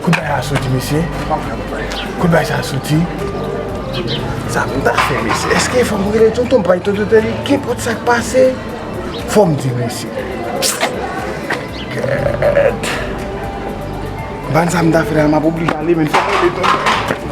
Kot bagay la soti mesye. Kot bagay sa soti. Sa pou m ta fè mesye. Eske fò m rele tonton m pral tonton tè li. Kenpòt sa k pase. Fò m di mesye. Gèèt. M pa konn sa m ta fè la. M ap oblije ale men. Fò m rele tonton.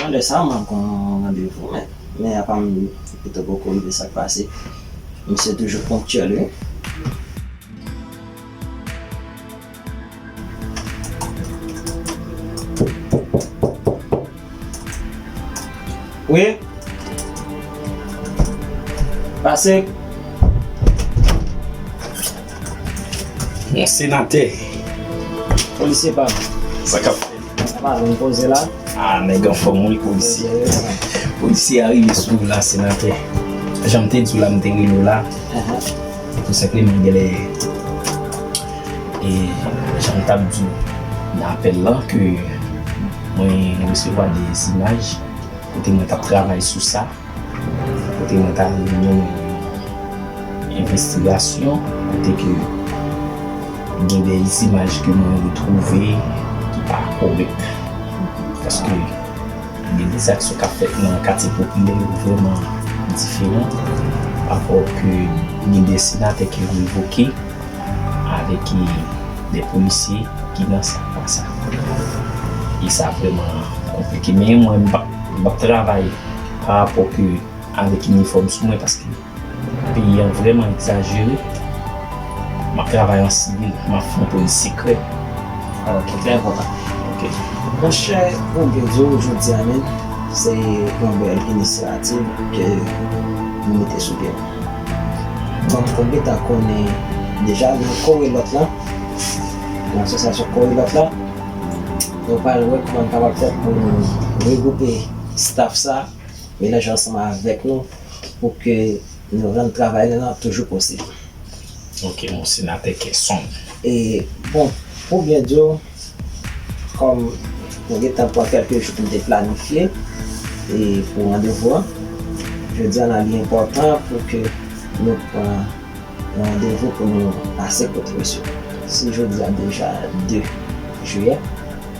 Nan lè sa mwen gon randevou men men apa m pito poko rive sak pase misye toujou ponktyèl wi. Wi Pase Bon senatè. Polisye pam. Sa kap fèt. Sa pa vin poze la. Ah nèg anfòm wi polisye. Polisye a rive sou ou la senatè. Janm te di w la m te rele w la tou senpleman genlè e janm t ap di w nan apèl lan ke mwen resevwa 2 imaj kote mwen t ap travay sou sa. kote mwen ta vle mennen yon envestigasyon kote ke gen de imaj ke mwen retwouve ki pa korèk paske gen de zak sou kap fèt nan katye popilè yo vrèman diferan apò ke gen de senatè ki revoke avèk de polisye ki nan sa pa sa e sa vrèman konplike men mwen m ap travay pa rapò ke avèk inifòm sou mwen paske peyi an vrèman egzajere map travay an sivil map fè yon polis sekrè alò ki trè enpòtan ok. Monchè ou byen di w jodi a men se yon bèl inisyativ ke nou mete sou pye donk ou gentan konnen deja nan korelòt la nan asosyasyon korelòt la nou pral wè kòman n kapab fè pou nou regwoupe staff sa melanje ansanm avèk nou pou ke nou rann travay nou nan toujou posib. Ok bon senatè kè sonb. E bon pou byen di w kòm mwen gentan pran kèlke jou pou m te planifye e pou randevou an jodi an la li enpòtan pou ke nou pran yon randevou pou nou pase kote misye se jodi a deja 2 jiyè.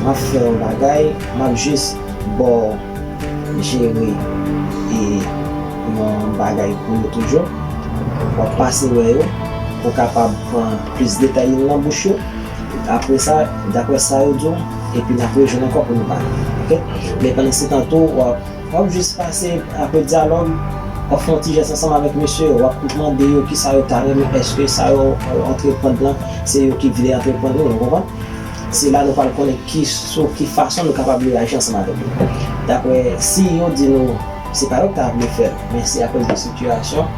Map fè yon bagay map jus baw jere e yon bagay pou yo toujou wap pase wè yo pou kapab pran plis detay yo nan bouch yo apre sa daprè sa yo diw epi nap rejwenn ankò pou nou pale ok men pandan se tan tou wap jus pase apre dyalòg wap fè yon ti jès ansanm avèk mesye yo wap mande yo kisa yo ta renmen eske sa yo antre prann lan se yo ki vle antre prann yo ou konprann. Se la nou pral konnen ki sou ki fason nou kapab reyaji ansanm avèk yo. Daprè si yo di nou se pa yo ki ta vle fè l men se akoz de sitiyasyon,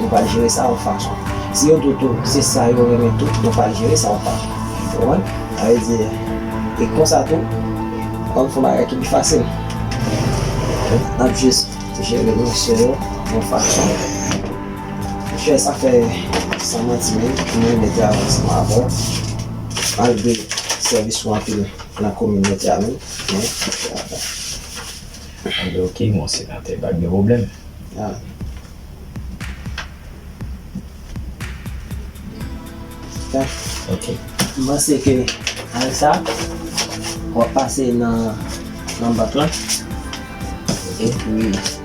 nou pral jere sa yon fason. Si yo di w tou se sa yo renmen tou, nou pral jere sa yon fason. Ou konprann? Sa vle di, e konsa tou, nou pral fè bagay ki pi fasil. N ap jis jere emosyon yo yon fason. Chè, sa fè san manti menm, m renmen travay ansanm avè w. malgre sèvis ou anpil nan kominote a menm men travay. Anpil ok mon senatè pa gen pwoblèm. Amen. Ok. M panse ke avèk sa wap pase nan bank lan epi.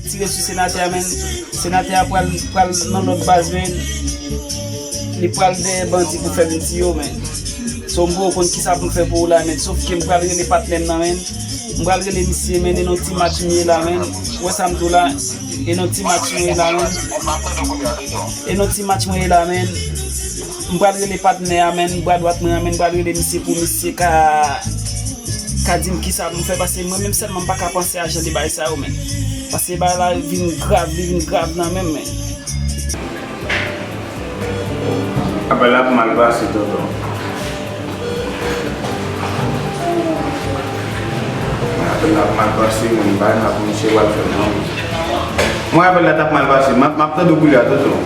Tire sou senatè a menn. Senatè a pral pral nan lòt baz menn. Li pral dèyè bandi pou fè vin tiye w menn. Sonbo ou konn kisa pou m fè pou ou la menn. Sof ke m pral rele patnè m nan menn. M pral rele misye menn e non ti match m ye la menn. Ou wè sa m di w la. E non ti match mwen ye la menn. E non ti match mwen ye la menn. M pral rele patnè a menn bra dwat mwen an menn pral rele misye pou misye ka ka dim kisa pou m fè pase mwen menm sèlman m pa ka panse a jan de bagay sa yo menn pase bagay la vin grav li vin grav nan menm menn. Apèl la ap mal pase tonton. Mwen apèl la ap mal pase menn bagay la pou misye pral fè nan mwen. Mwen apèl la tap mal pase map tande w kou li a tonton.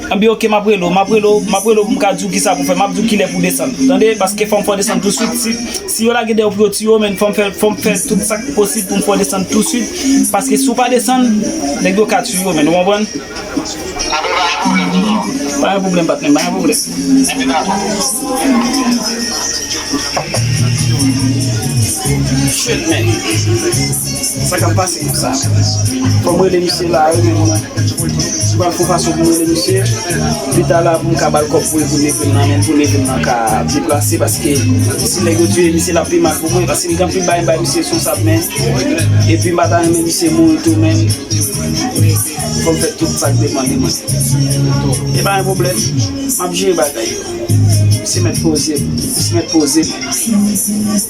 Anbyen ok map rele w, map rele w, map rele w pou m ka di w kisa pou w fè, map di w kilè pou w desann tande paske fòm fè w desann tou swit si si yo lage dèyè w pou yo tiye w menn fòm fè fòm fè tout sak posib pou m fè w desann tou swit paske si w pa desann nèg yo ka tiye w menn ou konprann. Sa kap pase pou sa. Fòm rele misye la wi men mwen pral fon fason poum rele misye pita la poum ka bal kòb poul voun epril nan menl poun epril nan ka deplase paske si nèg yo tiye misye lap pi mal pou mwen paske mgen anpil bagay m bay misye sou wsap men epi m pata renmen misye mouri tou men fòm fè tout sak depan de mwen epa yon pwoblèm map jere bagay yo misye mèt poze misye mèt poze mwen.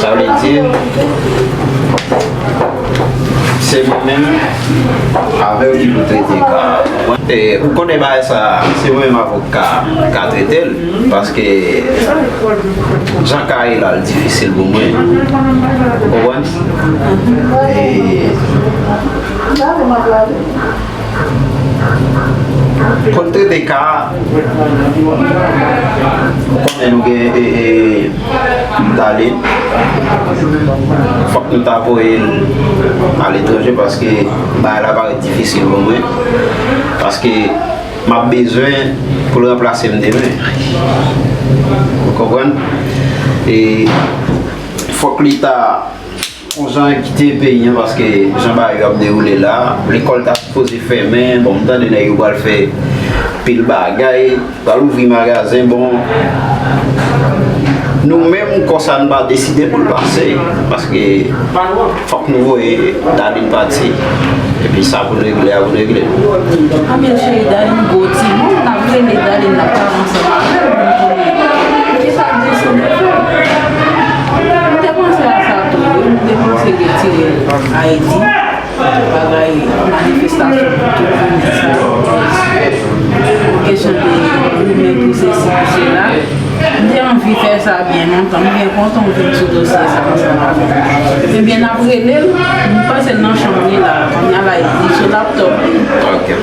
Sa vle di se mwen menm avèw ki pou trete ka a. Ou konnen bagay sa se mwen menm avèw ka ka trete l paske jan ka ye la li difisil pou mwen. Ou konprann? Kot TDK a ou konnen nou gen pou ta ale fok nou ta voye l a letranje paske bagay la parèt difisil pou mwen paske m ap bezwen pou l ranplase m demen ou konprann e fok leta Bon jan yo kite peyi an paske jan bagay yo ap dewoule la, lekòl ta sipoze fèmen, bon m tande nèg yo pral fè pil bagay, pral ouvri magazen, bon nou menm kò sa n pa deside pou l pase paske fòk nou voye Darline pati epi sa pou n regle a pou n regle l. Anmyè cheri Darline gwo timoun m ta vle men Darline ap pale ansanm avè m pou m konnen poukisa l deside fè l. M te panse a sa tou wi, m te panse yo tire Ayiti bagay manifestasyon pou tout moun di sa yo pou kesyon de goumen pou sesi pou sela, m te anvi fè sa byen lontan, m byen kontan w vin sou dosye sa ansanm avèk nou. Ebyen nap rele l, m panse l nan chanm li la, kounya la li sou laptop li.